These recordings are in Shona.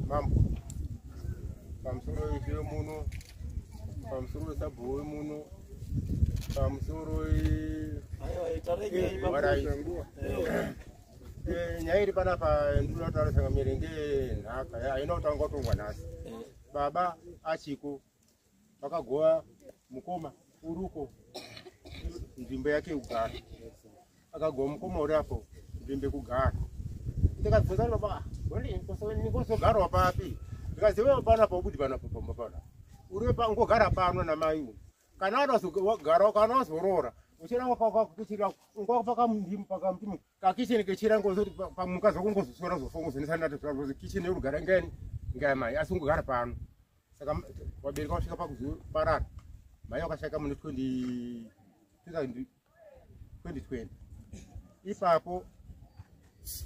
mambo pamusoro wezviyo muno pamusoro wesabhuwe muno pamusoro nyaya iri panapa ndinotaura sanga miringe nhaka haina kutanga kutongwa nhasi baba achiko vakagova mukoma uruko nzvimbo yake yekugara akagova mukoma uri apo nzvimbo yekugara ndikabvunza kuti baba nikosogarwa papi ndikaziva pana paubudi pana pamba pana uri ngogara pano namai uyu kana adazogara kana wazoroora uchiranga pakuchira ngwapakamutima kakicheni kechira ngozoti pamukadzi wako ngozosora zofongo zvenesanatozi kicheni yorugara ngani ngaya mai asi ungogara pano saka wabereka wasvika pakuzoparara mai wakashaka mune 2020 ipapo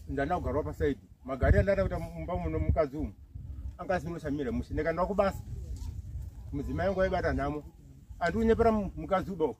ndana kugarwa pasaidi magari andada kuita mumba muno mukadzi umu anga asinoshamira mushe ndikanda kubasa mudzimai wangu waibata nhamo andiunyepera mukadzi uba uku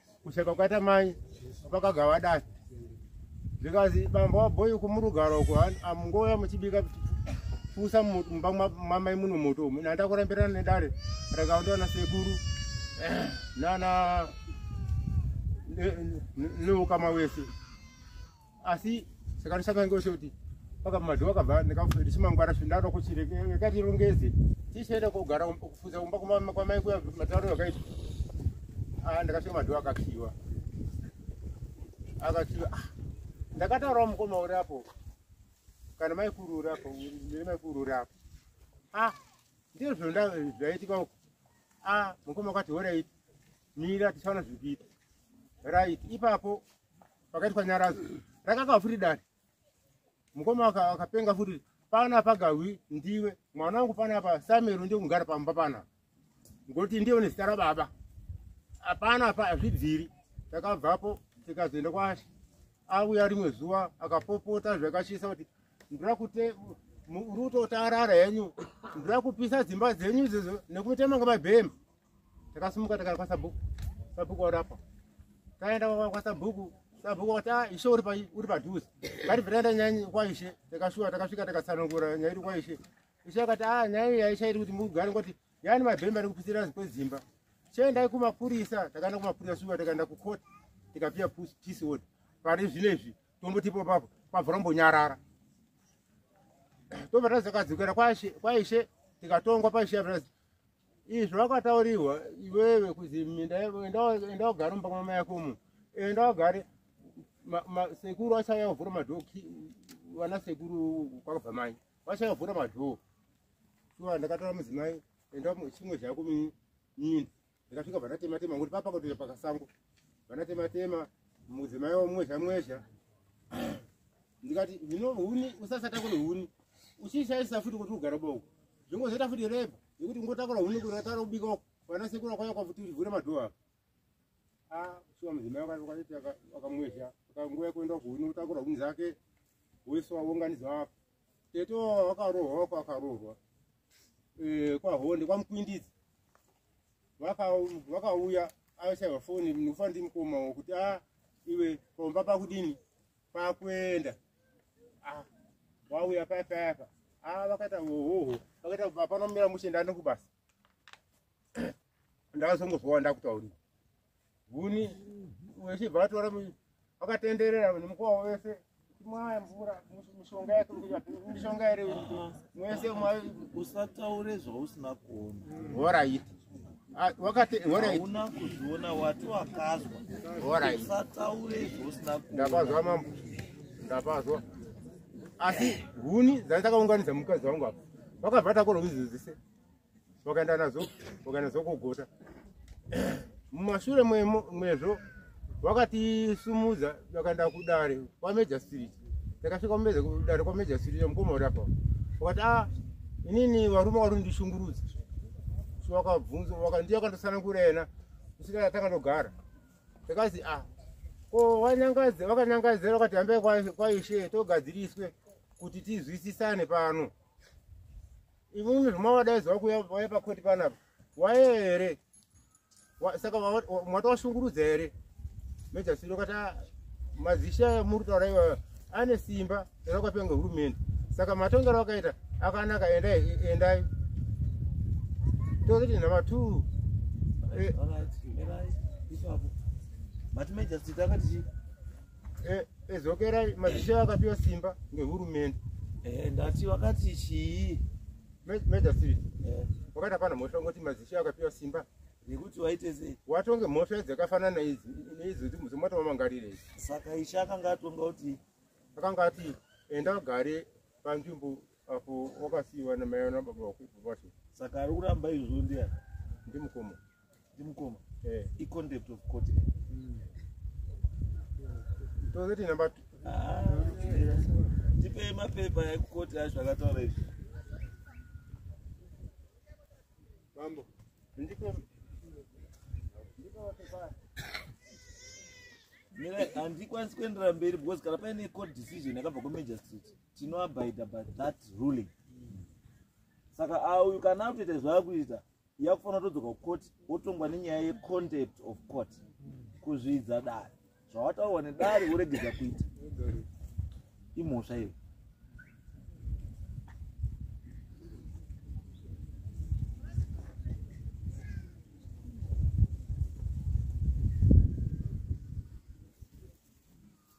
kuseka kwakaita mai vakagava dai zvikanzi bamba wabhoyi kumurugara uko amungouya muchibika fusa mumba mamai muno moto umu nanda kurambirana nedare rakaondiwana sekuru nana neukama wese asi saka ndisaka ngose kuti paka madhowa kabva ndikafuti chimangwara chindaro kuti rekati rongeze tichenda kugara um, kufuza kumba kumama kwamai kuya mataro yakaita ah ndakasvika madhowa akakiwa akakiwa ah, ndakataura mukoma uri apo kana mai kuru uri apo ndiri mai kuru uri apo ah ndizvo zvonda zvaitika uko ah mukoma kwati horaiti mira tichaona zvikuita right ipapo pakaitwa nyaradzo rakaka futi dare mukoma akapenga futi pana pagahwi ndiwe mwana wangu pana pa samero ndiye kugara pamba pana ngoti ndiye une zita rababa hapana pa azvibviri takabvapo tikazoenda kwashi auya rimwe zuva akapopota zvakashisa kuti ndira kute ruto taarara henyu ndira kupisa dzimba dzenyu izizvo nekuti manga mabhema takasimuka takaya kwasabhuku sabhuku warapa taenda kwasabhuku sabhuku wati ah, ishe uri padhuze ngatibviraenda nyaya kwaishe takashuwa takasvika takatsanangura nyaya iri kwaishe ishe akati a ah, nyaya iyi yaisha iri kuti mugare ngoti yaani mabhemba ari kupisira kwedzimba chiendai kumapurisa takaenda kumapurisa shuwa takaenda kukoti tikapiwa peace order pari zvino izvi tombotipo papo pabva rombonyarara tobva tazakadzokera kwaishe tikatongwa paishe Izvi zvakataurirwa iwewe kuzi minda enda wagara mumba mwamai yako umu enda wagare sekuru achauya kuvhura madhoo vana sekuru kwakabva mai vachauya kuvhura madhoo shuwa ndakataura mudzimai enda chimwe zvako mini ndikasvika vanatematema ngokuti papa kutoita pakasango vanatematema mudzimai wamwezha mwezha ndikati zvino huni usasata kune huni uchishaisa futi kuti ugara boko zvongozoita futi rep yekuti ungotakura hunhu kuratara ubika uko vana sekuru akwaya kwafuti uchivhura madhoo apo a shuwa mudzimai wakaiti wakamwezha akanguva yekuenda kuhuni utakura hunhu zake wese waunganidzwa apo tete wakarohwa wako akarohwa eh, kwahonde kwamukwindidzi vakauya aishaiwa foni nekufa ndimukoma kuti a ah, iwe pamba pakudini kwakuenda ah, wauya paya payapa ah, vakaita hohoho vakaita kubva panomira mushe ndani kubasa ndakazongozowa ndakutaurira huni wechibva vatora vakatenderera nemukwavo wese mwaya mvura mishonga yake mishonga ere mwese usataure zvausina kuona horaiti Ah, wakati hauna kuzviona wati wakazwa usataure zvosina ndapazwa mambo ndapazwa asi huni dzandakaunganidza mukadzi wangu apa vakabva takora kuzidzise vakaenda nazo vakaenda nazo kugota mumashure mwezvo vakatisumudza vakaenda kudare kwameja street takasvika kumeza kudare kwameja street mukoma uri apa vakati a ah, inini varume vari ndishungurudza so vakabvunza vakandi vakandosanankura yena kusvika takandogara takazi a ah, ko vanyangadze vakanyangadzira vakati hambai kwaishe togadziriswe kuti tizwisisane pano imimi zvomavadaidzi vakuya vaya pakoti panapa waye here saka mwata washungurudza here meja siro kati ah, mazishe aya muri kutaura iwayo ane simba rakwapiwa ngehurumende saka matongero akaita akanaka endai endai tozoti number two eh. ezokerai eh, eh, mazishe akapiwa simba ngehurumende ndati vakati chii Major Street. Eh. Wakati hapana mhosva ngoti mazishi akapiwa simba. Nekuti waite sei? Watonge mhosva dzakafanana idzi neidzo dzimwe dzomatowa mangarire idzi. Saka isha akanga atonga kuti akanga ati enda wagare panzvimbo apo wakasiiwa namai ana baba vako. Saka ari kuramba izvo ndiani? Ndimukoma. ndimukoma eh. iconcept of court hmm. tozeti number two ah, tipe mapepa ekukoti acho akataura izvi mambo ndiko handikwanisi kuenderera mberi because kana paine court decision yakabva kumagistrate tinoabida by that ruling saka auyu kana akutoita zvaakuita yakufanira todzoka kucourt wotongwa nenyaya yecontact of court kuzvidza dare zvawataurwa nedare woregedza kuita imhosva iyo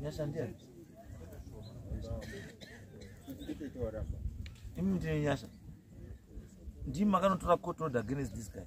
Nyashandira. Imi ndine nyasha. Ndimi makanotora court order against this guy.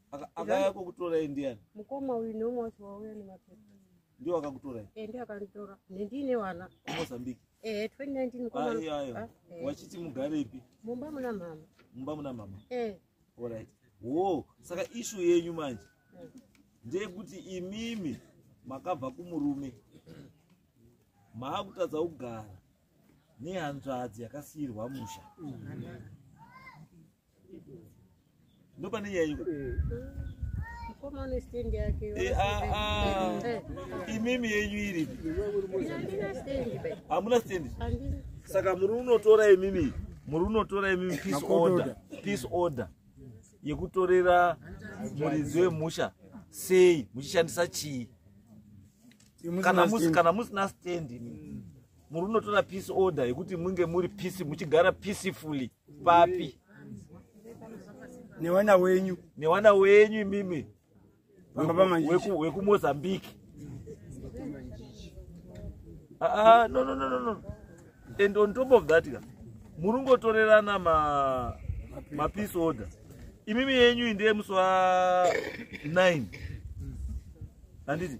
akaya kukutorai ndiani mukoma uyu neumwe wacho wauya nemapepa ndiwo akakutorai e eh, ndiyo akanditora nendiine vana mozambique e eh, 2019 mukomaayo ah, eh. wachiti mugare ipi mumba muna mama mumba muna mama e orit wo saka ishu yenyu manje hmm. ndeyekuti imimi makabva kumurume maakutadza kugara nehanzvadzi yakasiyirwa musha mm -hmm. ndopane nyaya iko eh, ah, ah. eh. imimi yenyu iri hamuna stendi saka muri unotora imimi muri unotora imimi peace order peace order yekutorera muridzi wemusha sei muchishandisa chii kana musina stendi imimi muri unotora peace order yekuti munge muri peace muchigara peacefully papi newana wenyu newana wenyu imimi wekumozambique aa ah, ah, no no no no no and on top of that ka muri ungotorerana ma mapeace order imimi yenyu iyi ndeye musi wa 9 handiti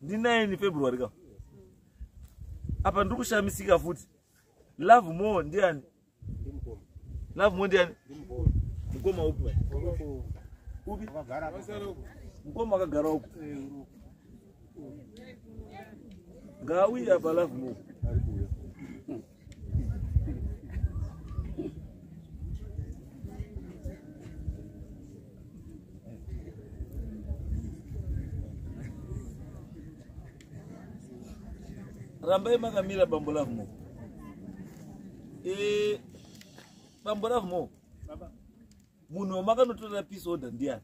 ndi 9 february ka apa ndiri kushamisika futi love more ndiani love more ndiani mukoma upi upi mukoma akagara uku ngaauye apa love more rambai makamira bambo love mo e, bambo love mo munhu wamakanotorera peace order ndiani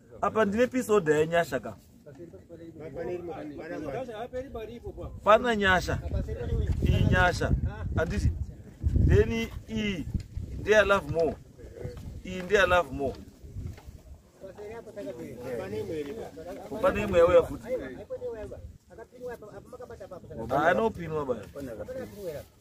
apa ndine peace order yanyasha ka pana nyasha iyi nyasha anditi then iyi ndeya love more iyi ndeya love more pane imwe yauya futi anopinwa baa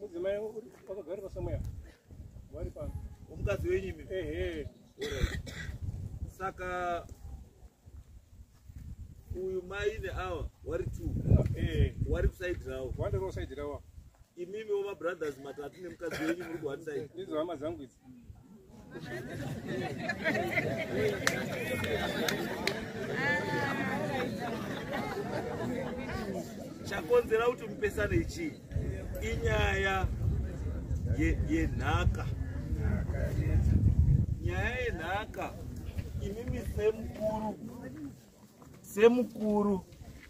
Mudzimai wakagara pasamweya. Wari pa. Umukadzi wenyu imi. Ehe. Saka uyu mai neawa wari two. Eh. Wari kuside rawo. Wanda kuside rawo. Imimi woma brothers matatu nemukadzi wenyu muri kuhatisaidi. Ndizo hama dzangu idzi. chakonzera kuti mupesane ichii inyaya yenhaka nyaya yenhaka imimi semukuru semukuru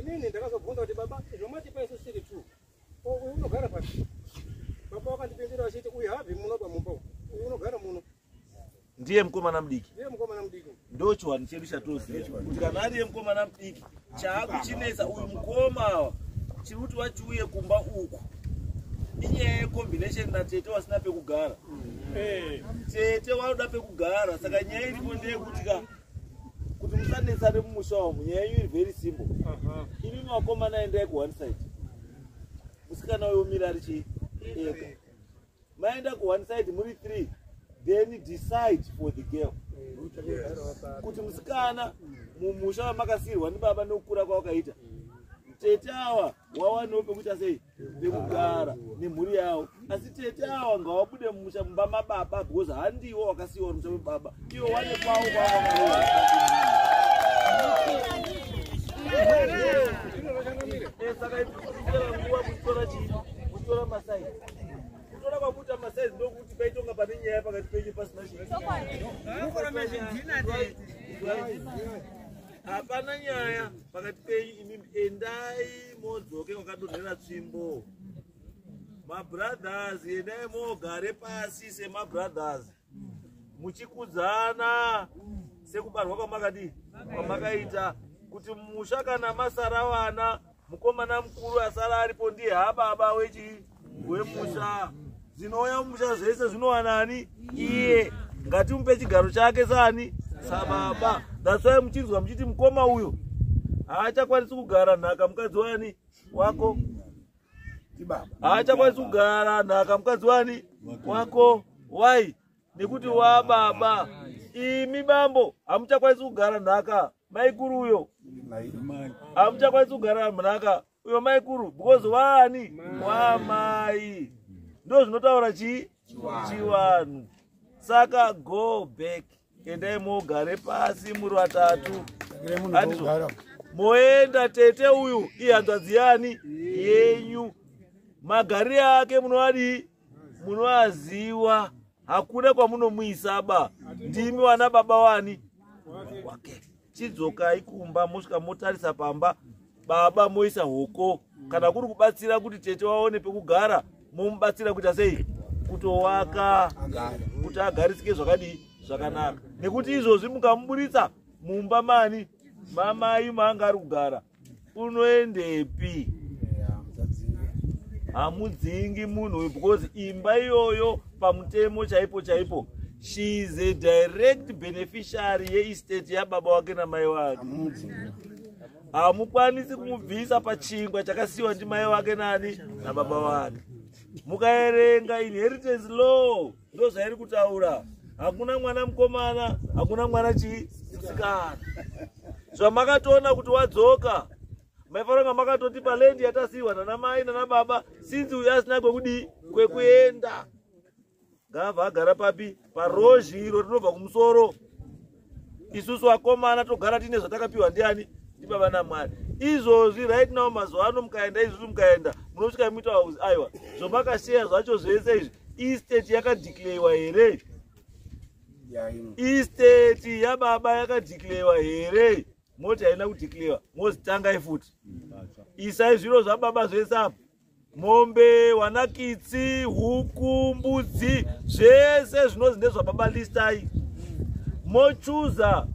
Inini ndakazobvunza kuti baba zvamatipa isu siri two. Ko uyu unogara papi? Baba wakandipindira achiti uyu habvi muno pamumba uyu. Uyu unogara muno. ndiye mukomana mudiki Ndiye mukomana mudiki. ndo chiwanhu chedu chatoziva kuti kana ariye mukomana mudiki chaakuchinetsa uyu mukoma awa chiri kuti vachiuye kumba uku inyaya yecombination natete wasina pekugara Eh. tete wanoda pekugara saka nyaya iripo ndeyekuti ka kuti musanetsane mumusha wangu nyaya yenyu iri very simple imi makomana endai kuone side musikana uyo mira ari chii ega maenda kuone side muri three then decide for the girl kuti musikana mumusha wamakasirwa ndibaba nokukura kwawakaita tete awa wawaniwo pekuita sei nekugara nemhuri yawo asi tete awa ngawabude mumusha mumba mababa because handiwo wakasiiwa mumusha mebaba iwo wane kwawo kwawa saka iaa nguva kutora chii kutora masai kutora kwakuita masaizi ndokuti paitonga pane nyaya pakati penyu pasina chii hapana nyaya pakati penyu imimi endai modzoke wakadonhera tsvimbo mabrothers endai mogare pasi semabrothers muchikudzana sekubarwa kwamakadii kwamakaita kuti musha kana masara vana mukomana mukuru asara aripo ndiye hababa wechii wemusha dzinouya mumusha zvese zvinowana ani iye ngatimupe chigaro chake saani sababa that's why muchinzwa muchiti mukoma uyo haachakwanisi kugara nhaka mukadzi wani wako haachakwanisi kugara nhaka mukadzi wani wako why nekuti wababa imi bambo hamuchakwanisi kugara nhaka maikuru uyo hamuchakwanisi kugara nhaka uyo maikuru because waani wamai ndo zvinotaura chii chivanhu saka go back endai mogare pasi muri vatatu moenda tete uyu ihanzvadzi yani yenyu magarire ake munovadii munoaziwa hakuna kwamunomuisaba ndimi wana baba wani wake chidzokai kumba mosvika motarisa pamba baba moisa hoko kana kuri kubatsira kuti tete waone pekugara momubatsira kuita sei kutowaka kuti agarisike zvakadii zvakanaka nekuti izvozvi mukamuburitsa mumba mani mamai maanga ari kugara unoendepi hamudzingi munhu uyu because imba iyoyo pamutemo chaipo chaipo she is a direct beneficiary yeestate yababa wake namai wake hamukwanisi kumubvisa pachingwa chakasiyiwa ndimai wake nani nababa wake mukaerenga inheritance law ndozvairi kutaura hakuna mwana mukomana hakuna mwana chii musikana zvamakatoona kuti wadzoka maifanira kunge makatoti palendi yatasiiwa nana mai nana baba sinzi uyo asina kwekudii kwekuenda ngaabva agara papi parozhi iro rinobva kumusoro isusu vakomana togara tiine zvatakapiwa ndiani ndibaba namwari izvozvi right now mazuva ano mukaenda izvozvi mukaenda munosvika muita wauzi aiwa zvomakasheya zvacho zvese izvi isteti yakadhikleiwa here isteti yababa yakadhikleiwa here moti haina kudhikleiwa mozitangai futi isai zviro zvababa zvese apo mombe wanakitsi huku mbudzi zvese zvinonzi ndezvababa listai mochuza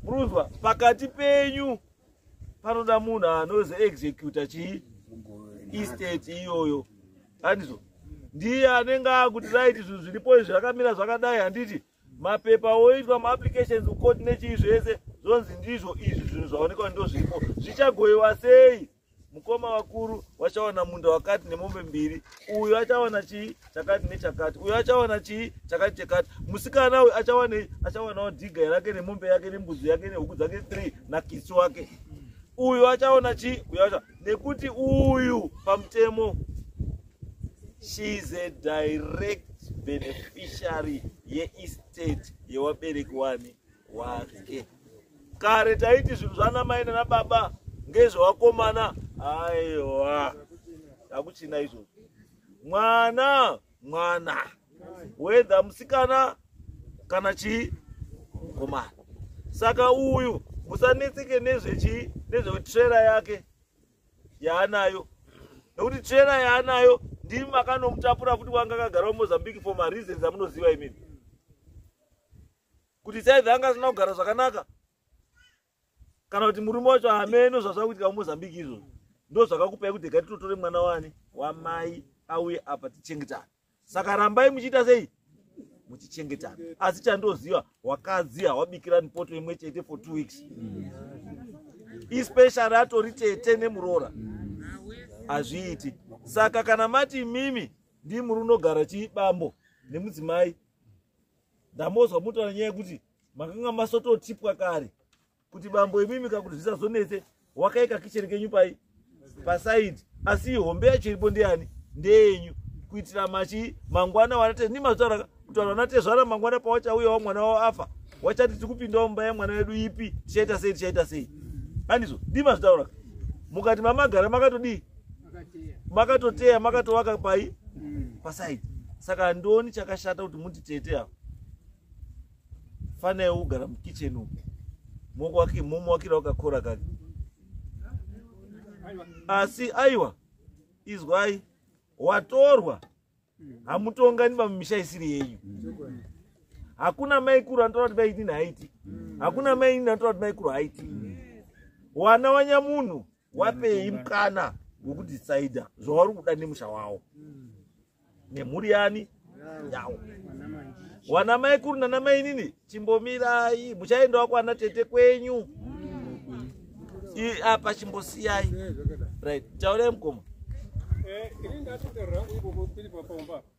murunzwa pakati penyu panoda munhu anozi executa chii estate iyoyo andizvo ndiye anenge akuti raiti zvinhu zviripo izvi zvakamira zvakadai handiti mapepa oitwa maapplications kukoti nechii zvese zvonzi ndizvo izvi zvinhu zvaonekwa ndozvipo zvichagoiwa sei mukoma vakuru vachawana munda wakati nemombe mbiri uyo achawana chii chakati nechakati uyo achawana chii chakati chekati musikana uyu achawanei achawanawo dhiga yake nemombe yake nembuzi yake nehuku dzake three nakisi wake uyo achawana chii uyo acha nekuti uyu pamutemo she is a direct beneficiary yeestate yewabereki wani wake kare taiti zvinhu zvanamai nanababa ngezvewakomana aiwa hakuchina izvozvo mwana mwana wedha musikana kana chii mukomana saka uyu musanetseke nezvechi nezvetrera yake yaanayo nekuti trailer yaanayo ndimi makanomutapura futi wanga akagara mumozambique for mareasons amunoziva imimi kuti saive anga asina kugara zvakanaka kana kuti murume wacho hameno zvazvakuitika mumozambique izvozvo ndo zvakakupai kuti gatitotore mwana wani wamai auye apa tichengetane saka rambai muchiita sei muchichengetana asi chandoziva wakadzi hawabikirani poto imwe chete for two weeks especially atori tete nemuroora hazviiti saka kana mati mimi ndii muri unogara chii bambo nemudzimai ndamozwa mutaura nyaya yekuti makanga masototipwa kare kuti bambo imimi ka kuti zvisazonetse wakaika kicheni kenyu pai pasaidi asi hombe yacho iripo ndeyani ndeyenyu kuitira machi mangwana wanate ni mazvara kuti vanhu vanatezvara mangwana pawachauya wa mwana wavo afa wachati tiri kupindawo mumba yamwana wedu ipi tichaita sei tichaita sei andizvo ndi mazvitaura mukati mamagara makatodii makatoteya makatovaka pai pasaidi saka handioni chakashata kuti muti tete avo fana yeugara mukitchen umu momuwakira wakakora kake asi aiwa izwai watorwa hamutongani pamumisha isiri yenyu hakuna maikuru anotaura kuti maitini haiti hakuna mainini anotaura kuti maikuru haiti wana wanyamunhu wapei mukana wekudecider zvavari kuda nemusha wavo nemhuri yani yawo wana mai kuru nana mai nini chimbomirai muchaendawo kwana tete kwenyu apa chimbosiyai right taurai mukoma eh, ini ndatotaura hangu ikoko tiri papamba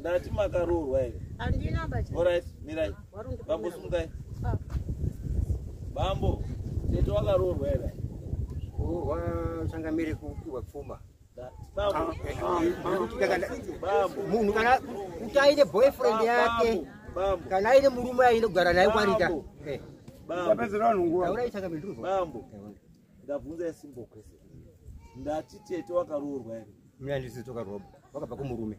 ndati makaroorwa here orit mirai bambo sumukai ah. bambo tete wakaroorwa here kuroorwa changamire kupihwa pfuma munhu kana kuti aine boyfriend yake kana aine murume ainogara naye kwarita eh. bambo ndabvunza isimbo kwese ndati tete wakaroorwa here mnandisi tokaroba wakabva kumurume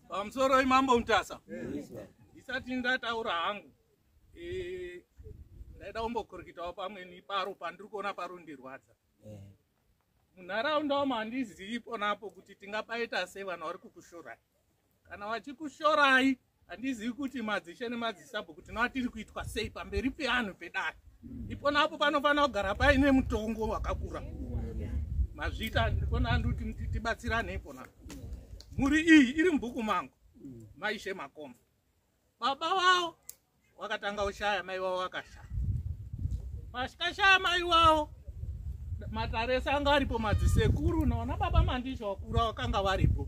Pamusoroi Mambo Mutasa? Ndisati ndataura hangu. Eh, ndaida kumbokurikitawo pamwe neparo pandiri kuona parundirwadza. Munharaunda wamo handizivi ponapo kuti tingapaita sei vanhu vari kukushorai. Kana vachikushorai handizivi kuti madzishe nemadzisabho kuti nowatiri kuitwa sei pamberi peanhu pedare. Iponapo panofanira kugara paine mutongo wakakura. Mazvita ndikona ndikuti tibatsirane iponapo. mhuri iyi iri mubhuku mangu maishe makomba baba wavo wakatanga kushaya mai wavo wakashaya pasikashaya mai wavo matarese anga aripo madzisekuru naona baba mandizha wakura wakanga varipo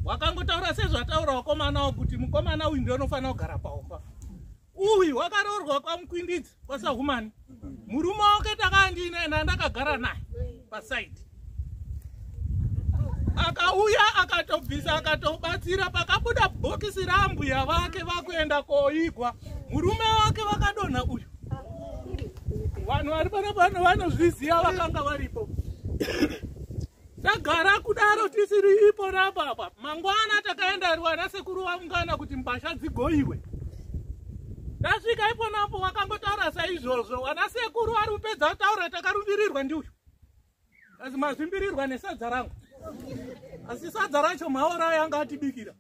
wakangotaura sezvataura wakomana wo kuti mukomana uyu ndionofanira kugara paumba uyu wakaroorwa kwamukwindidzi kwasahumani murume wake takandiinaye naye ndakagara naye pasaidi akauya akatobvisa akatobatsira pakabuda bhokisi rambuya vake vakuenda koigwa murume wake vakadonha uyu vanhu vari pano pano vanozviziva vakanga varipo Tagara kudaro tisiri ipo rapa apa. Mangwana takaenda rwana sekuru vamungana kuti mbasha dzigoiwe. Tasvika ipo napo wakangotaura saizvozvo. Wana sekuru ari kupedza kutaura takarumbirirwa ndiuyu. Asi mazvimbirirwa nesadza rangu. Asi sadza racho maora yanga atibikira.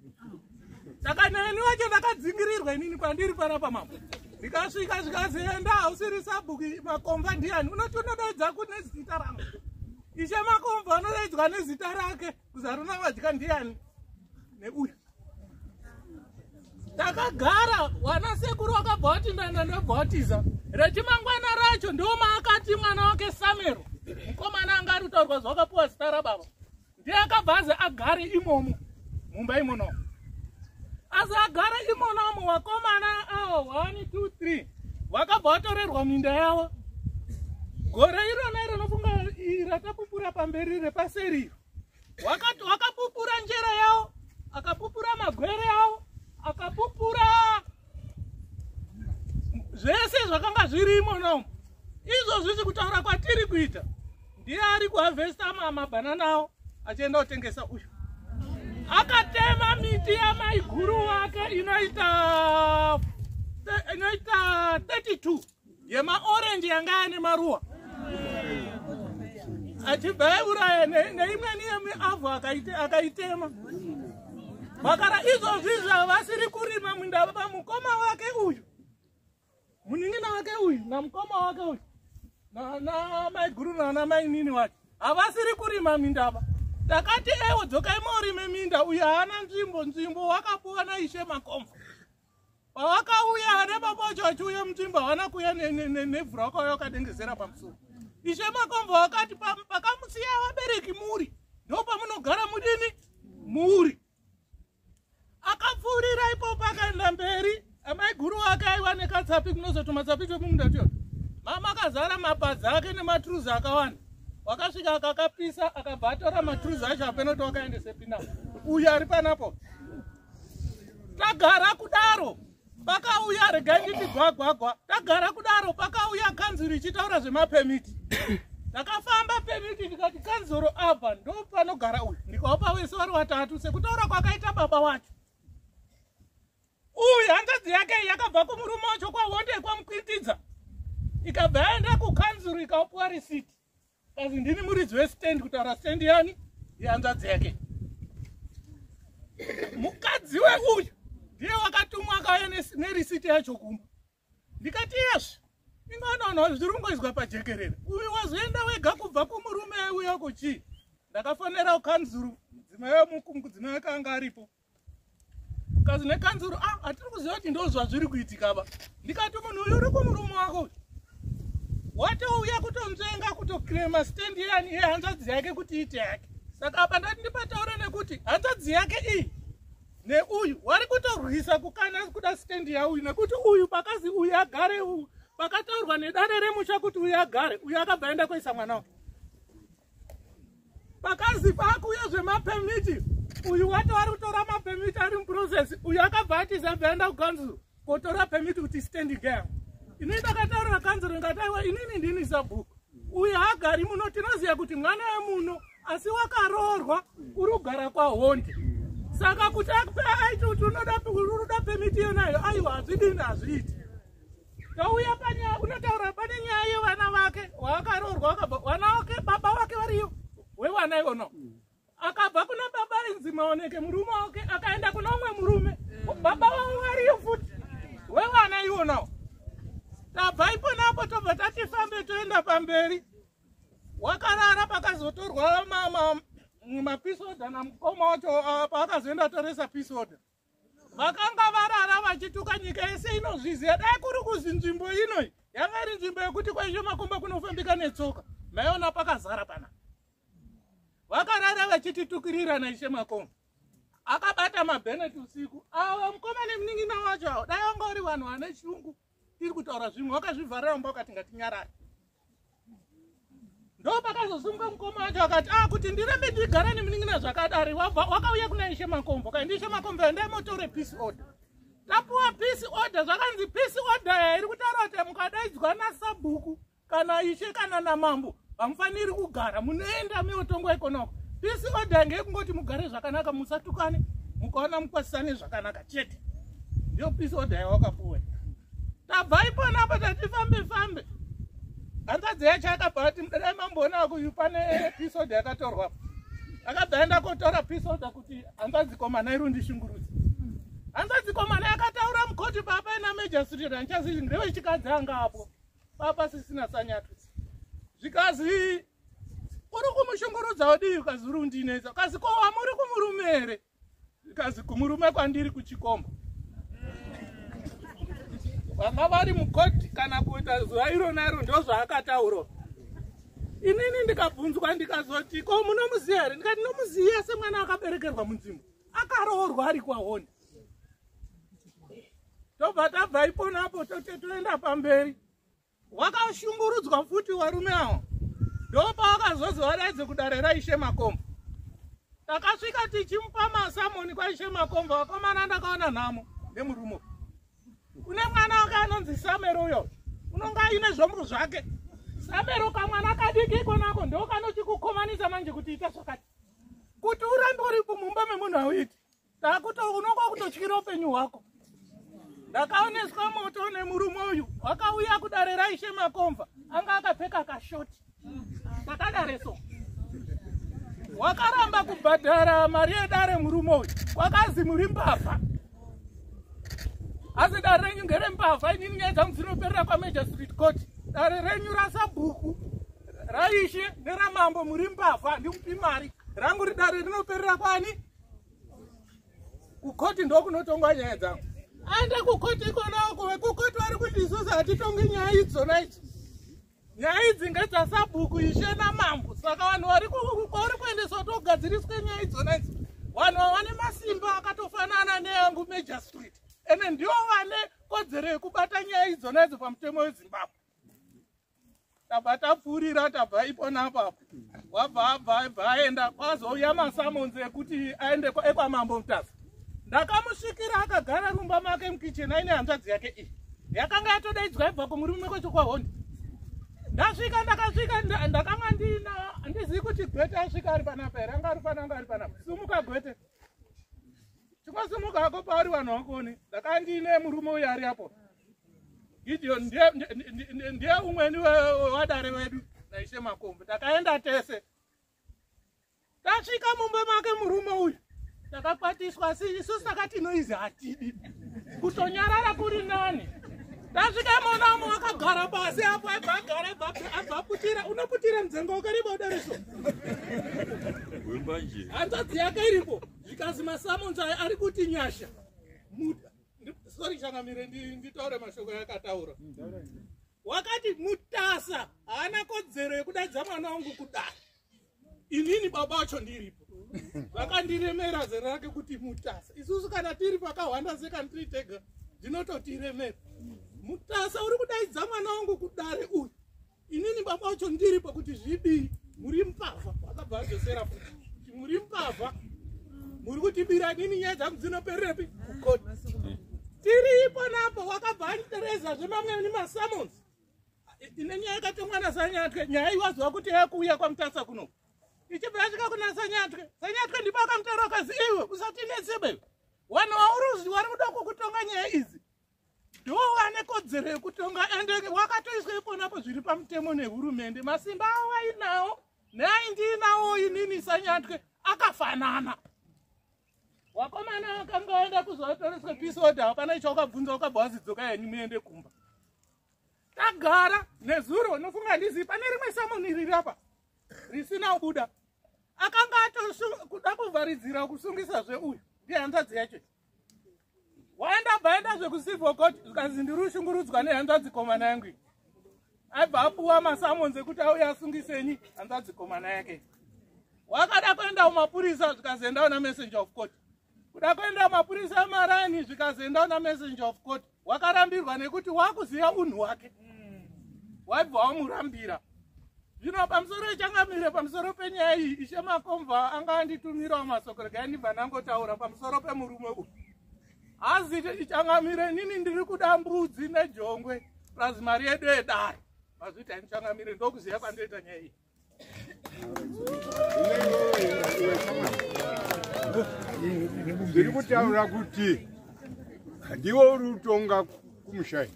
Saka neni wacho ndakadzingirirwa inini kwandiri panapa mambo. Ndikasvika zvikazenda usiri sabhuku makomba ndiani unoti unodaidza kune zita rangu. Ishe Makombo anodaidzwa nezita rake kuzaruna vadya ndiani neuyu takagara wana sekuru wakabva wati ndaenda ndobhautiza reti mangwana racho ndiwo maakati mwana wake samero mukomana anga ari kutaurwa zvawakapiwa zita rababa ndiye akabva azi agare imomo mumba imono asagara imonomo vakomana awo 1 2 3 vakabva vatorerwa minda yavo gore irona iro nofunga rakapupura pamberi repaseri iro wakapupura njere yavo akapupura magwere yavo akapupura zvese zvakanga zvirimo nom izvozvi zvikutaura kwatiri kuita ndiye ari kuhavhesta mabhanana awo achienda kutengesa uyu akatema miti yamaiguru wake inoita inoita 32 yemaorenji yanga ane maruwa achibva auraya neimweni yemiavhu akaitema vakara izvozvi zvavasiri kurima munda vamukoma wake uyu munin'ina wake uyu namukoma wake uyu namaiguru nanamainini wake havasiri kurima mindava takati ewo dzokai maurime minda uyo haana nzvimbo nzvimbo wakapuwa naishe makomva pavakauya ana baba wacho vachiuya mutimba havana kuuya nevhura vakauya vakadengezera pamusoro ishe makombo vakati pakamusiya vabereki muri ndo pamunogara mudini muri akapfuurira ipopo akaenda mberi amai guru wake aiva nekatsapi kunozoti matsapi twemumunda tuyo mama akazara mapadza ake nematuruzi akawanda wakasvika akakapisa akabva atora maturuzi acho apenoti wakaendesepi na uyu ari panapo tagara kudaro pakauya regai nditi gwagwagwa tagara kudaro pakauya kanzuru ichitaura zvemapemiti ndakafamba pemiti ndikati kanzuru apa ndo panogara uyu ndikaupa wese vari watatu sekutaura kwakaita baba wacho uyu hanzvadzi yake yakabva kumurume wacho kwahonde kwamukwitidza ikabva yaenda kukanzuru ikaupiwa risiti Kazi ndini muridzi westand kutaura stand yani yehanzvadzi yake. Mukadzi weuyu ndiye wakatumwa akauya nerisiti yacho kumba. Ndikati yes. Ingonono zviri kungoizwa pajekerere. Uyu wazoenda wega kubva kumurume uyo kuchii? Ndakafonera ukanzuru mudzimai wemukumu kudzimai akanga aripo. kazi nekanzuru ah, hatiri kuziva kuti ndo zvazviri kuitika ava ndikati munhu uyu uri kumurume wako watouya kutonzvenga kutoclema stand yani iye hanzvadzi yake kuti iite yake saka apa ndati ndipataura nekuti hanzvadzi yake iyi neuyu wari kutorwisa kukana kuda stand yauyu nekuti uyu pakazi uyu agare uyu pakataurwa nedare remusha kuti uyu agare uyu akabva enda kuisa mwana wake pakazi pakuuya zvemapemiti uyu wato ari kutora mapemiti ari muprocess uyu akabva atiza bvaenda kukanzuro kotora pemiti kuti stand game ini ndakataurira kanzuro ndikataiwa inini ndini sabhuku uyu haagari muno tinoziva kuti mwana wemuno asi wakaroorwa uri kugara kwahondi saka kuti aiti kuti unoda pemiti iyonayo aiwa hazvidini hazviiti Ndauya panyaya kunotaura pane nyaya yevana vake waakaroorwa wakabva vana wake baba wake variyo wevana ivono akabva kuna baba inzi maoneke murume wake akaenda kuna umwe murume baba vavo variyo futi wevana ivonawo tabva iponapo tobva tatifambe toenda pamberi wakarara pakazotorwa mapisoda namukoma wacho ah, paakazoenda toresa pisoda ma, vakanga varara vachituka nyika yese inozviziva dai kuri kuzi nzvimbo inoi yanga iri nzvimbo yekuti kwaizvo makomba kunofambika netsoka maiona pakazara pana vakarara vachititukirirana ishe makomba akabata mabenet usiku awa mukoma nemunin'ina wacho awo dai vanga uri vanhu vane chungu iri kutaura zvimwe wakazvivharira mumba ukati ngatinyarare ndo pakazosimuka mukoma wacho akati a ah, kuti ndirambe ndigara nemunin'ina zvakadari wakauya kuna ishe makombo kaindi ishe makombo yo ndaimotore peace order tapuwa peace order zvakanzi peace order yairi kutaura kuti mukadaidzwa nasabhuku kana ishe kana namambo hamufaniri kugara munoenda meotongwa ikonoko pisi oda yange yekungoti mugare zvakanaka musatukane mukaona mukwasisane zvakanaka chete ndiyo pisi oda yawakapuwa tabvai pona apa tatifambe fambe hanzadzi yacho akabva ati mdadai mamboona kuyu pane pisi oda yakatorwa akabva aenda kotora pisi oda kuti hanzadzi komana irundishungurudzi hanzadzi komana yakataura mukoti papa ina majastirira nchazi ndevechikadzi anga apo papa sisina sanyatutsi zvikazi uri kumushungurudzao wadii ukazi uri undinetsa ukazi ko wamuri kumurume here ukazi kumurume kwandiri kuchikomba vanga vari mukoti kana kuita zuva irona iro ndo zvaakataura inini ndikabvunzwa ndikazoti ko munomuziva here ndikati nomuziva semwana akaberekerwa munzvimbo akaroorwa ari kwahoni tobva tabva iponapo tote toenda pamberi wakashungurudzwa futi varume awo ndopaakazozi vadaidze kudare raishe makombo takasvika tichimupa masamoni kwaishe makombo vakomana ndakaona nhamo nemurume kune mwana wake anonzi samero uyo unonga aine zvombo zvake samero kamwana kadiki ikonako ndokanochikukomanisa manje kuti ita zvakati kuti urambe uri kumumba memunhu auiti ndakuto unonga kutotyira upenyu hwako ndakaoneswa moto nemurume uyu wakauya kudare raishe makomva anga akapfeka kashoti ndakadare so wakaramba kubhadhara mari yedare murume uyu wakazi muri mbavha asi dare renyu ngere mbavha inini nyaya dzangu dzinoperera kwamajor street court dare renyu rasabhuku raishe neramambo muri mbavha ndikupi mari rangu ridare rinoperera kwani kukoti ndokunotongwa nyaya dzangu aenda kukoti ikonawo kuve kukoti vari kuti isusu hatitongi nyaya idzona idzi nyaya idzi ngedzasabhuku ishe namambo saka vanhu vari kwauri kuendeswa togadziriswe nyaya idzona idzi vanhu vavane masimba akatofanana neyangu major street ende ndivo vane kodzero yekubata nyaya idzona idzo pamutemo wezimbabwe tabva tapfuurira tabva ipona apapo wabva abva abva aenda kwazouya masamonzi ekuti aende ekwamambo mutaza ndakamusvikira akagara rumba make mukicheni aine hanzvadzi yake iyi yakanga yatodaidzwa ibva kumurume kwacho kwahondi ndasvika ndakasvika ndakanga ndina andizivi kuti gwete asvika ari panapa here anga ari pana anga ari panapa sumuka gwete chingosimuka ako pauri vanhu vakuone ndakandine murume uyo ari apo Gideon ndiye ndiye- ndiye- ndiye- ndiye umweni we- we- wadare wedu naishe makombe takaenda tese tasvika mumba make murume uyu takakwatiswa si isusu takati noizi hatidi kutonyarara kuri nani tasvika mwana umo akagara pasi apo aibva agara abva- abva aputira unoputira mdzenga wakariba udareso Wembanje. hanzvadzi yake iripo zvikazi masamonzai ari kuti nyasha Mu- sorry changamire nditaure mashoko yakataura wakati mutasa haana kodzero yekudaidza mwana wangu kudai inini baba wacho ndiripo vakandiremera zera rake kuti mutasa isusu kana tiri pakahwanda sekantri tega ndinototiremera mutasa uri kudaidza mwana wangu kudare uyu inini baba vacho ndiri pakuti zvidii muri mbavha akabva adzosera futi muri mbavha muri kutibira nini nyaya dzangu dzinopererepi kukoti tiri ipo napo wakabva anditereza zvemamwe nemasamons ine nyaya yakatomwa nasanyatwe nyaya iwaziva kuti yakuuya kwamutasa kuno ichibva yasvika kuna sanyatwe sanyatwe ndipo akamutaura ukazi iwe usatinetsebe vanhu wauri uziva vari kuda kukutonga nyaya idzi ndiwo ane kodzero yekutonga ende wakatoiswa iponapo zviri pamutemo nehurumende masimba awo ainawo neaindiinawo inini sanyatwe akafanana wakomana wakanga waenda kuzotoreswa peace order hapana icho wakabvunza wakabva wazidzoka yenyu muende kumba tagara nezuro unofunga ndizivi pane rimwe samoni riri apa risina kubuda akanga atokuda kuvharidzira kusungisazve uyu ndihanzadzi yacho waenda bvaenda zvekucivil court zvikanzi ndiri ushungurudzwa nehanzvadzi komana yangu aibva apuwa masamons ekuti auye asungisenyi hanzvadzi komana yake wakada kuenda kumapurisa zvikazoendawo namessenger of court kuda kuenda kumapurisa emarani zvikazoendawo namessenger of court wakarambirwa nekuti wakuziva unhu wake waibva wamurambira zvino pamusoro ichangamire pamusoro penyaya iyi ishe makomva anga anditumirawo masoko regai ndibva ndangotaura pamusoro pemurume uyu hazi ichangamire nini ndiri kuda mbudzi nejongwe plus mari yedu yedare mazviita ichangamire ndokuziva kwandoita nyaya iyi ndiri kutaura kuti ndiwe uri utonga kumushai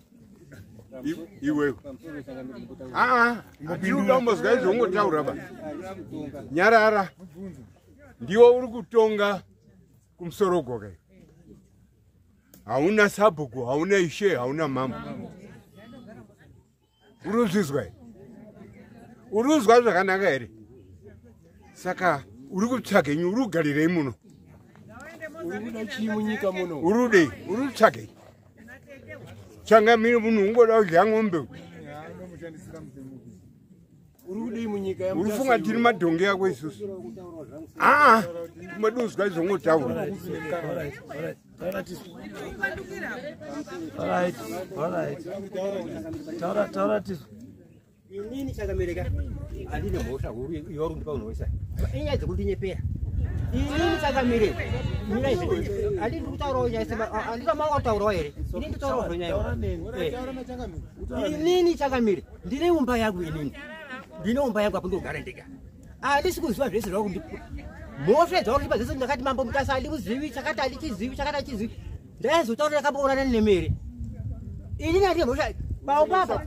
iwewe aa ndiuda umbozwa izvo ungotaura ba nyarara ndiwe uri kutonga kumusoro goka hauna sabhuku hauna ishe hauna mambo unozvizwa unonzwa zvakanaka here saka uri kutsvaga nyi uri kugarirei muno urudei uri kutsvagei tsvanga miri munhu ungoda kudya ng'ombe urifunga tiri madhongi yako isusu aa ah, ah. mwedu uzwa izvongotaura inini chakamereka andine mhosva huru yorundipa unhoisa inyaya dzekundinyepera inini chakamire mira izvi andi ndiri kutaurawo nyaya sema andina manga kutaurawo here inini nditaurawo zvonyaya inini chakamire ndine umba yangu inini ndine umba yangu apo ndogara ndega Andisi ah, kuziva zvese zvava kundipa. Mhosva dzava kundipa dzese ndakati mambo mutasa andimuzivi chakati andichizivi chakati andichizivi. Ndaizotaura ndakaboonana nemere. Ini nandine mhosva paumbapa.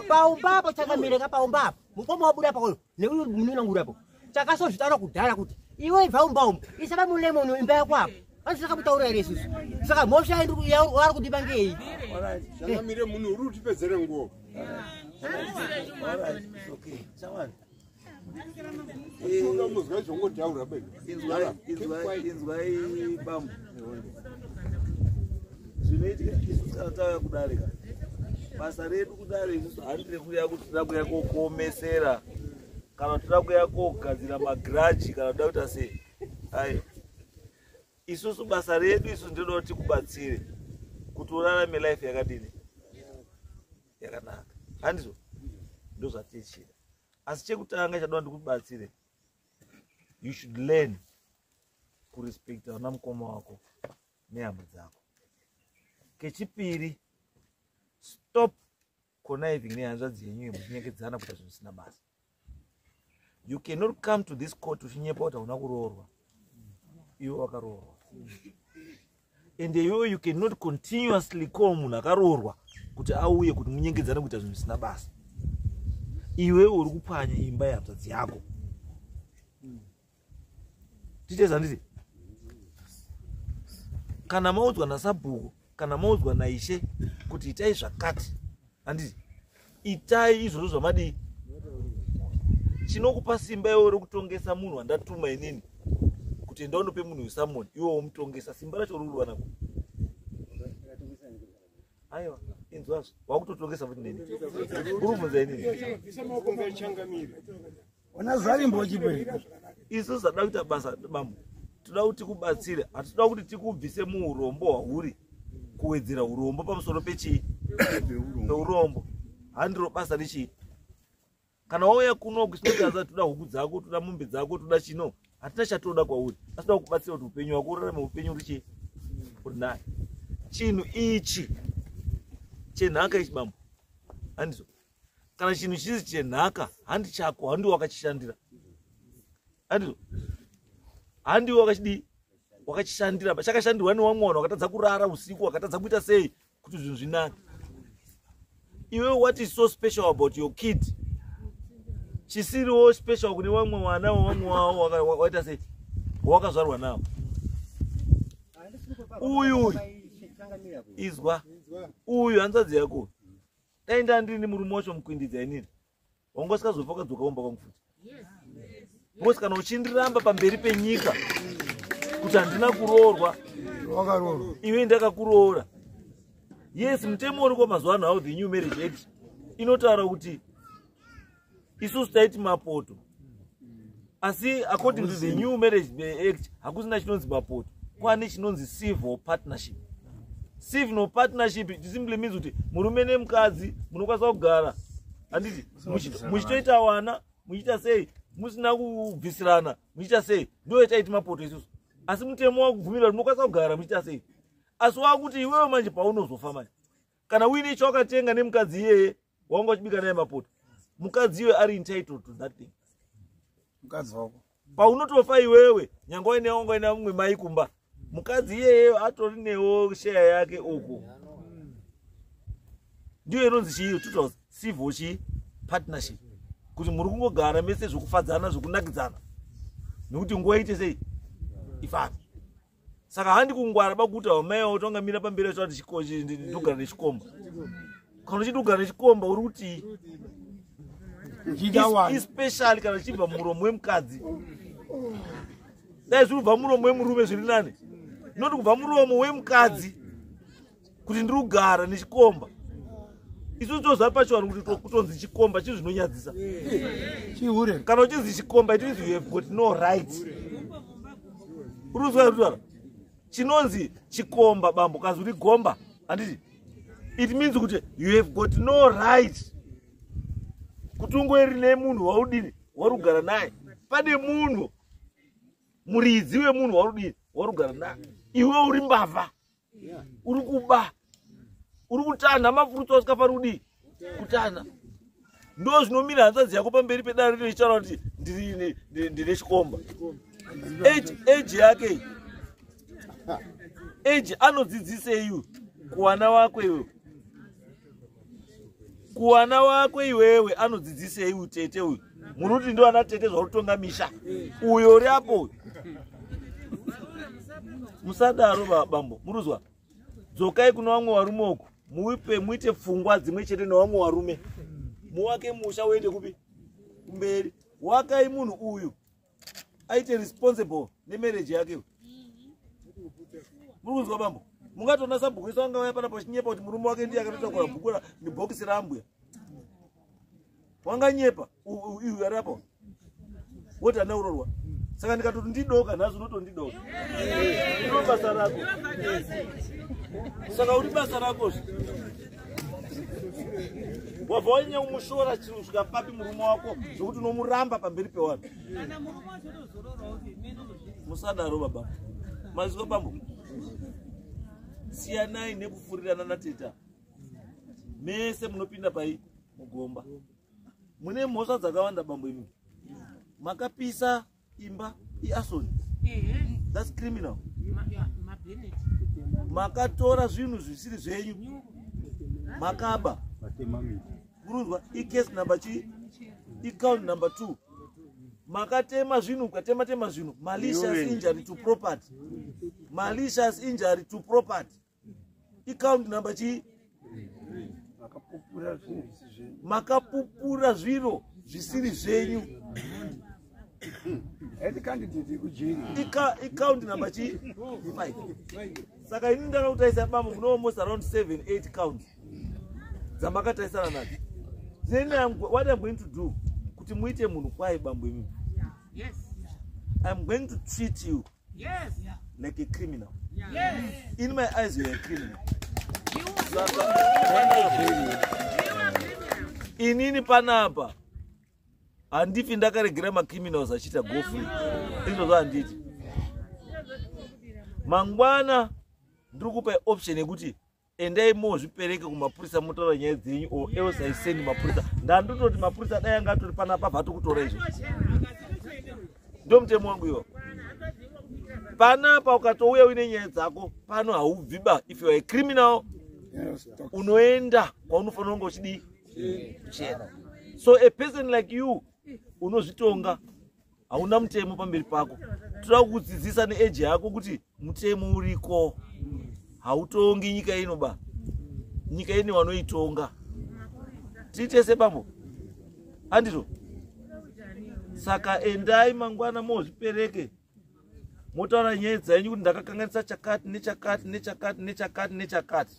Paumbapa chakamire ka paumbapa. Mukoma wabuda pakoyo neuyo munina ngurapo. Chakasozvitaura kudhara kuti iwe ibva umba umu isaba mulemoni imba yako apo asi takakutaura here isusu saka mhosva yaari kudiba ngei changamire munhu uri utipedzere nguo inzwai bambo zvinoitika isu kana tava kudarika basa redu kudare isusu handire kuya kuti tida kuya kokomesera kana tida kuya kogadzira magiraji kana tida kuita sei ai isusu basa redu isu ndinoda kuti tikubatsire kuti urarame life yakadini yakanaka handizvo ndozvatichida asi chekutanga chadoa ndikubatsire you should learn kurespecta vana mukoma wako nehama dzako kechipiri stop conniving nehanzvadzi yenyu yemuchinyekedzana kuita zvinhu zvisina basa you cannot come to this court uchinyepa kuti hauna kuroorwa iwe wakaroorwa and iwewe you cannot continuously call munhu akaroorwa kuti auye kuti munyengedzane kuita zvinhu zvisina basa iwewe uri kupwanya imba yehanzvadzi yako titeza nditi kana maudzwa nasabhuku kana maudzwa naishe kuti itai zvakati handiti itai izvozvo zvamadii chinokupa simba iwo rekutongesa munhu wandatuma inini kuti enda unope munhu wesamoni iwo womutongesa simba racho ruri wanako aiwa inzwazvo wakutotongesa futi neni uri kubvunza inini Ona zvarimbo chipere. Isu sada kuita basa bambo. Tinoda kuti kubatsire. Hatinoda kuti tikubvise muurombo hwauri kuwedzera urombo pamusoro pechi peurombo. Handiro basa rechi. Kana wauya kuno kusinga za tuda huku dzako, tuda mombe dzako, tuda chino. Hatina chatoda kwauri. Asi tinoda kubatsira kuti upenyu wako urarame upenyu richi. Unaye. Chinhu ichi chenhaka ichi bambo. Handizo. kana chinhu chiri chenhaka handi chako handiwe wakachishandira andizvo handiwe wakachidii wakachishandira chakashandirwa newamwana wakatadza kurara usiku wakatadza kuita sei kuti zvinhu zvinake iwe what is so special about your kid chisiriwo special kune vamwe vana wevamwe wavo waita sei wawakazvarwa nawo uyu izwa uyu hanzvadzi yako dai ndandini murume wacho mukuindidza inini wanga usikazofa ukadzoka kumba kwangu futi because kana uchindiramba pamberi penyika kuti handina kuroorwa iwe ndakakuroora yes mutemo uriko mazuva ano how the new marriage act inotaura kuti isusu taiti mapoto asi according to the new marriage act hakusina chinonzi mapoto kwane chinonzi civil partnership civil partnership it simply means kuti murume nemukadzi munokwanisa kugara handiti muchitoita wana muchiita sei musina kubvisirana muchiita sei ndo yataiti mapoto isusu asi mutemo wakubvumirwa kuti munokwanisa kugara muchiita sei asi wakuti iwewe manje paunozofa manje kana uine chawakatenga nemukadzi iyeye wanga uchibika naye mapoto mukadzi iwe ari entitled to that thing mukadzi wako paunotofa iwewe nyanga waine wanga waina mumwe mai kumba mukadzi iyeyeyo atori newo sheya yake uku ndiyo inonzi chii tuta civil chii partnership kuti muri kungogara mese zvokufadzana zvokunakidzana nekuti nguva iite sei ifambi saka handi kungwara bakuta wamaya utonga mira pamberi acho ati ndogara nechikomba kana uchiti ugara nechikomba uri kuti especially kana chibva muromo wemukadzi dai zviri kubva muromo wemurume zviri nani noti kubva muromo wemukadzi kuti ndiri kugara nechikomba isu tozvapa chivanhu kuti kutonzi chikomba chii zvinonyadzisa chihure kana uchinzi chikomba it means you have got no right uruzwa rutara chinonzi chikomba bambo kazi uri gomba handiti it means kuti you have got no right kuti ungoeri nemunhu waudini wari kugara naye pane munhu muridzi wemunhu waudini wari kugara naye iwe uri mbavha uri kuba uri kutanha mafurutsa usikafanira kudii kutanha ndo zvinomira hanzvadzi yako pamberi pedare rino ichitaura kuti ndine chikomba age yake age anodzidzisei kuvana wako iwe kuwana wako iwewe anodzidzisei utete uyu munoti ndo ana tete zvarutonga misha uyo uri apo uyu musadaro babambo muruzwa dzokai kuna vamwe varume uku muipe muite pfungwa dzimwe chete nevamwe varume muwake musha uende kupi kumberi wakai munhu uyu aite responsible nemarriage yake muri kunzwa bambo mungatoona sabhuku isu anga vaya panapo chinyepa kuti murume wake ndiye akatotakura bhuku nebhokisi raambuya wanganyepa iwe ari apo woti hana urorwa saka ndikatoti ndidoka nhasi unotondidoka iro basa rako saka uri basa rako zve wabva wanyanya kumushora chiri kusvika papi murume wako zvekuti unomuramba pamberi pewanhu musadaro baba maziko pambo siyanai nekufurirana nateta mese munopinda pai mugomba mune mhosva dzakawanda bambo imi makapisa imba iasoni thats criminal makatora zvinhu zvisiri zvenyu makaba kurunzwa icase number chi icount number two makatema zvinhu mukatema tema zvinhu malicious injury to property malicious injury to property icount number chii makapupura zviro zvisiri zvenyu icount number chii saka ini ndakakutaisa bambo munoalmost around seven eight count dzamakataisana nadzo then I'm, what i'm going to do kuti muite munhu kwaye bambo imi i'm going to treat you Yes. Yeah. Like a criminal. Yeah. Yes. In my eyes, you're a criminal. You are a criminal. Inini panapa handifi ndakaregera macriminals achiita go free izvozvo handiti mangwana ndiri kupa option yekuti endai mozvipereke kumapurisa motaura nyaya dzenyu o else i send mapurisa ndandototi mapurisa dai anga atori pana pabva atokutora izvo ndomutemo wangu iwo panapa ukatouya uine nyaya dzako pano haubviba if youare criminal unoenda kwaunofanira kunge uchidii chena so a person like you unozvitonga hauna mutemo pamberi pako toda kukudzidzisa neeji yako kuti mutemo uriko hautongi nyika ino ba nyika ine wanoitonga tiitese bambo andito saka endai mangwana mozvipereke motaura nyaya dzenyu kuti ndakakanganisa chakati nechakati nechakati nechakati nechakati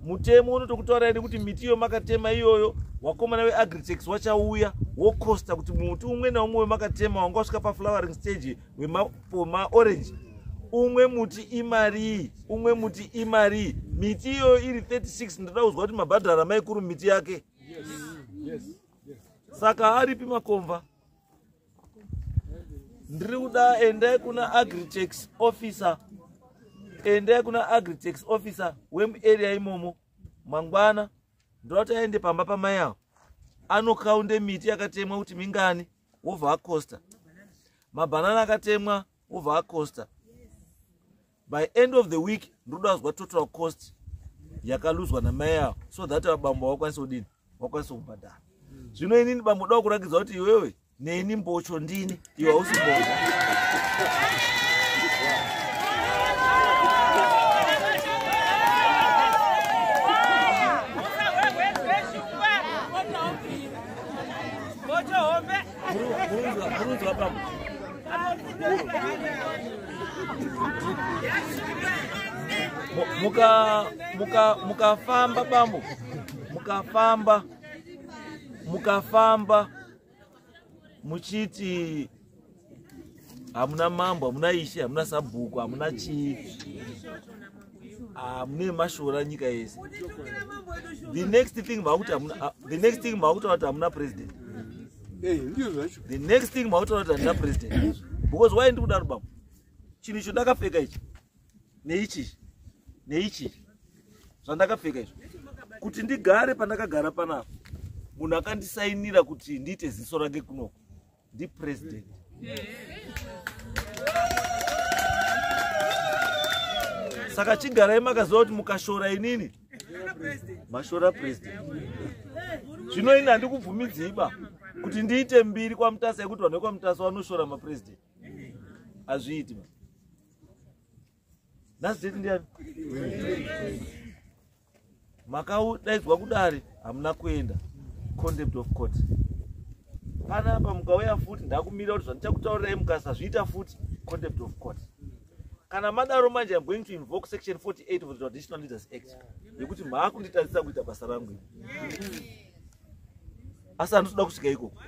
mutemo unotokutaurai nekuti miti iyo makatema iyoyo wakomana weagritex wachauya wocosta kuti muti umwe naumwe wemakatema wanga wasvika paflowering stage wemaorange umwe muti imarii umwe muti imarii miti iyoyo iri 36 ndoda kuzwa kuti mabhadhara maikuru miti yake saka aripi makomva ndiri kuda endai kuna agritex officer endai kuna agritex officer wemuarea imomo mangwana ndoti aende pamba pamai avo anokaunde miti yakatemwa kuti mingani wobva acosta mabhanana akatemwa wobva acosta by end of the week ndoda kuzwa total cost yakaluzwa namai yavo so that vabambo vakwanisa kudini vakwanisa kubhadhara zvino inini bambo da kurakidza kuti iwewe neni mbocho ndini iwe hausi mbocho muka muka mukafamba bambo mukafamba mukafamba muchiti hamuna mambo hamuna ishe hamuna sabhuku hamuna chii hamune ah, mashora nyika yese the next thing makuti ah, the next thing makutaura kuti hamuna president eh, the next thing makutaura kuti handina president because why ndikudaro baba chinhu icho ndakapfeka ichi neichichi neichichi zvandakapfeka izvo kuti ndigare pandakagara panapa munhu akandisainira kuti ndiite ziso rake kunoko ndi president saka chigarai makaziva kuti mukashora inini mashora president zvino ini handikubvumidziiba kuti ndiite mbiri kwamutasa yekuti vanhu vekwamutasa vanoshora mapresident hazviiti ba nhasi deti ndiani makadaidzwa kudare hamuna kuenda contempt of court panapa mukauya futi ndakumira kuti zvandichakutaurirai mukasazviita futi contempt of court kana madaro manje iam going to invoke section 48 of the traditional leaders act yekuti maakunditadzisa kuita basa rangu asi handitoda kusvika ikoko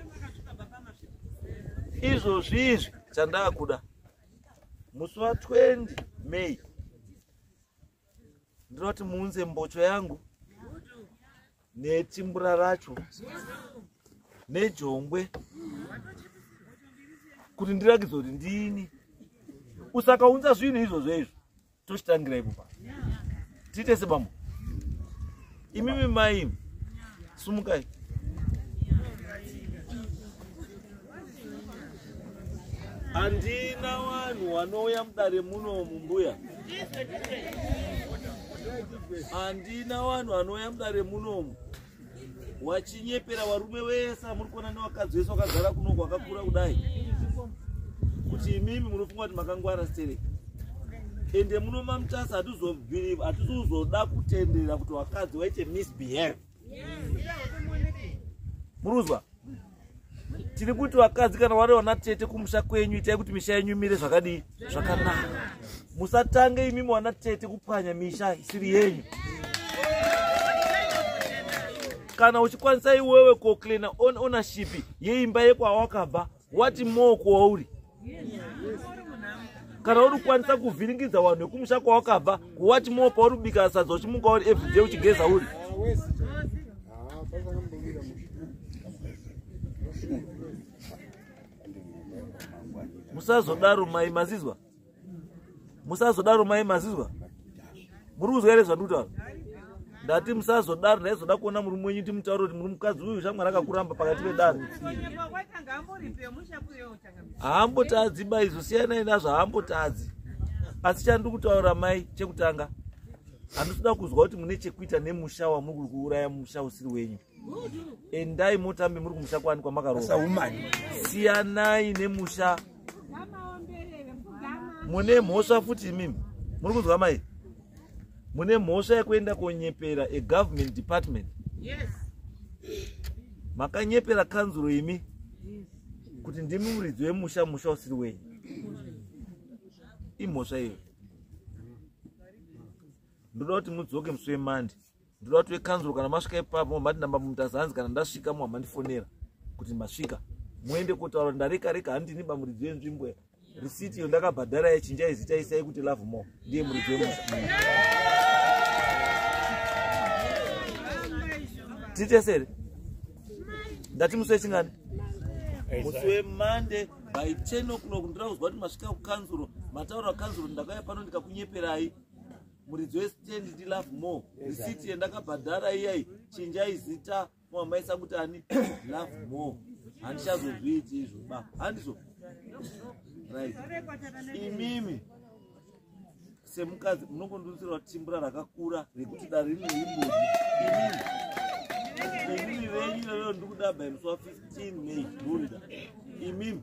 izvozvi izvi chandaakuda musi wa 20 may ndinoti muunze mbocho yangu nechimbura racho nejongwe kuti ndirakidze kuti ndini usakaunza zvinhu izvozvo izvo tochitangira ipo pa tiite sebambo imimi mai sumukai handina vanhu vanouya mudare muno mumbuya handina vanhu vanouya mudare munomu wachi tinyepera varume vese amuri kuona nevakadzi vese vakazara kuno kwakakura kudai kuti imimi munofunga kuti makangwara stereki ende muno mamutasa hatizobhiriva hatizozoda kutendera kuti vakadzi vaite misbehave muruzwa tiri kuti vakadzi kana vari vana tete kumusha kwenyu itai kuti misha yenyu imire zvakadii zvakanaka musatange imimi vana tete kupwanya misha isiri yenyu kana uchikwanisa iwewe koklina on ownership yeimba yekwawakabva wati moo kwauri kana uri kukwanisa kuvhiringidza vanhu vekumusha kwawakabva kuwati moo pauri kubika sadza uchimuka uri everyday uchigeza uri musazodaro mai mazizwa musazodaro mai mazizwa muri kuzwa here zvandikutaura ndati musazodaro ndaizoda kuona murume wenyu timutaura kuti muri mukadzi uyu shamwari akakuramba pakati pedare haambotadzi maizo siyanai nazvo haambotadzi asi chandiri kutaura mai chekutanga handisida kuzwa kuti mune chekuita nemusha wamuri kuri kuuraya musha usiri wenyu endai mutambe muri kumusha kwani kwamakaroa siyanai nemusha mune mhosva futi imimi muri kunzwa mai mune mhosva yekuenda konyepera egovernment department makanyepera kanzuro imi kuti ndimi muridzi wemusha musha usiri wenyu imhosva iyo ndoda kuti mudzoke musi wemandi ndoda kuti vekanzuro kana masvika ipapo mati namba mumutaza hanzi kana ndasvika mwa mandifonera kuti masvika muende kotaura ndareka reka handini bamuridzo yenzvimbo risiti iyo ndakabhadhara yachinja izita isai kuti love more ndiye muridzo yemusa titesere ndati musi wechingani musi wemande by 10 o'clock ndira kuzwa kuti masvika kukanzuro mataura kukanzuro ndakauya pano ndikakunyeperai muridzi westand ndi love more receipt yendakabhadhara iyai chinjai zita mwamaisa kuti ani love more handichazozviiti izvo ba handizo right imimi semukadzi munongondiutsirwa timbura rakakura rekuti dare rine imboni imimi imimi venyu iyoyo ndikuda by musi wa 15 may ndurida imimi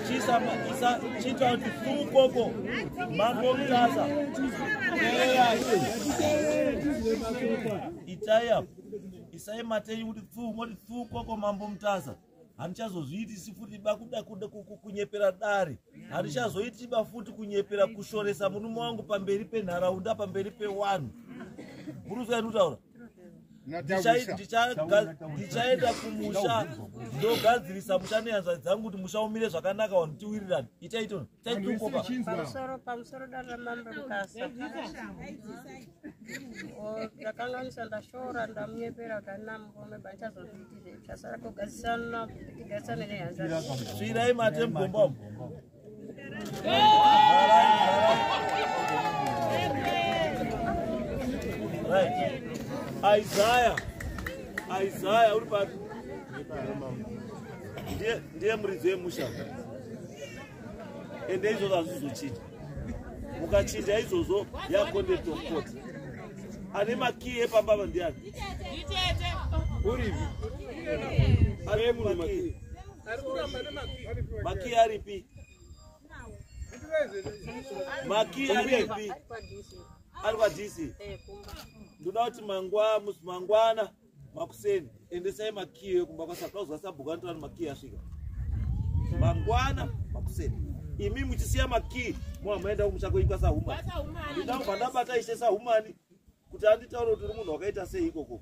itaya isai matei kuti pfuu moti pfuu koko mambo mutasa handichazozviitisi futi ba kuda kuda kunyepera dare handichazoitiba futi kunyepera kushoresa murume wangu pamberi penharaunda pamberi pewanhu murusa yatutaura ndichaenda kumusha ndogadzirisa musha neyanzva dzangu kuti musha umire zvakanaka vanhu tiwirirane itaito taitoakanganisa ndashora ndamunyepera kuti anamgome bachazozviitire chasara kugadzisana tigaisane neyanzva svirai matemgomba Isaiah. Isaiah uri pari. Ndiye ndiye muridzi wemusha. Ende izvozvo hazvizochinja. Mukachinja izvozvo yaconduct of court. Ane makiyi epamba ava ndiani? Urivi. Ane makiyi. Maki aripi? Maki aripi? Ari kwa DC. Ndoda kuti mangwa mangwana makuseni endesai makiyo yekumba kwasakauzwa sabhuku anotora kuti makiyo asvika mangwana makuseni imi muchisiya makiyi mwa maenda kumusha kwenyu kwasahumani ndida kubva ndabata ishe sahumani kuti anditaure kuti uri munhu wakaita sei ikoko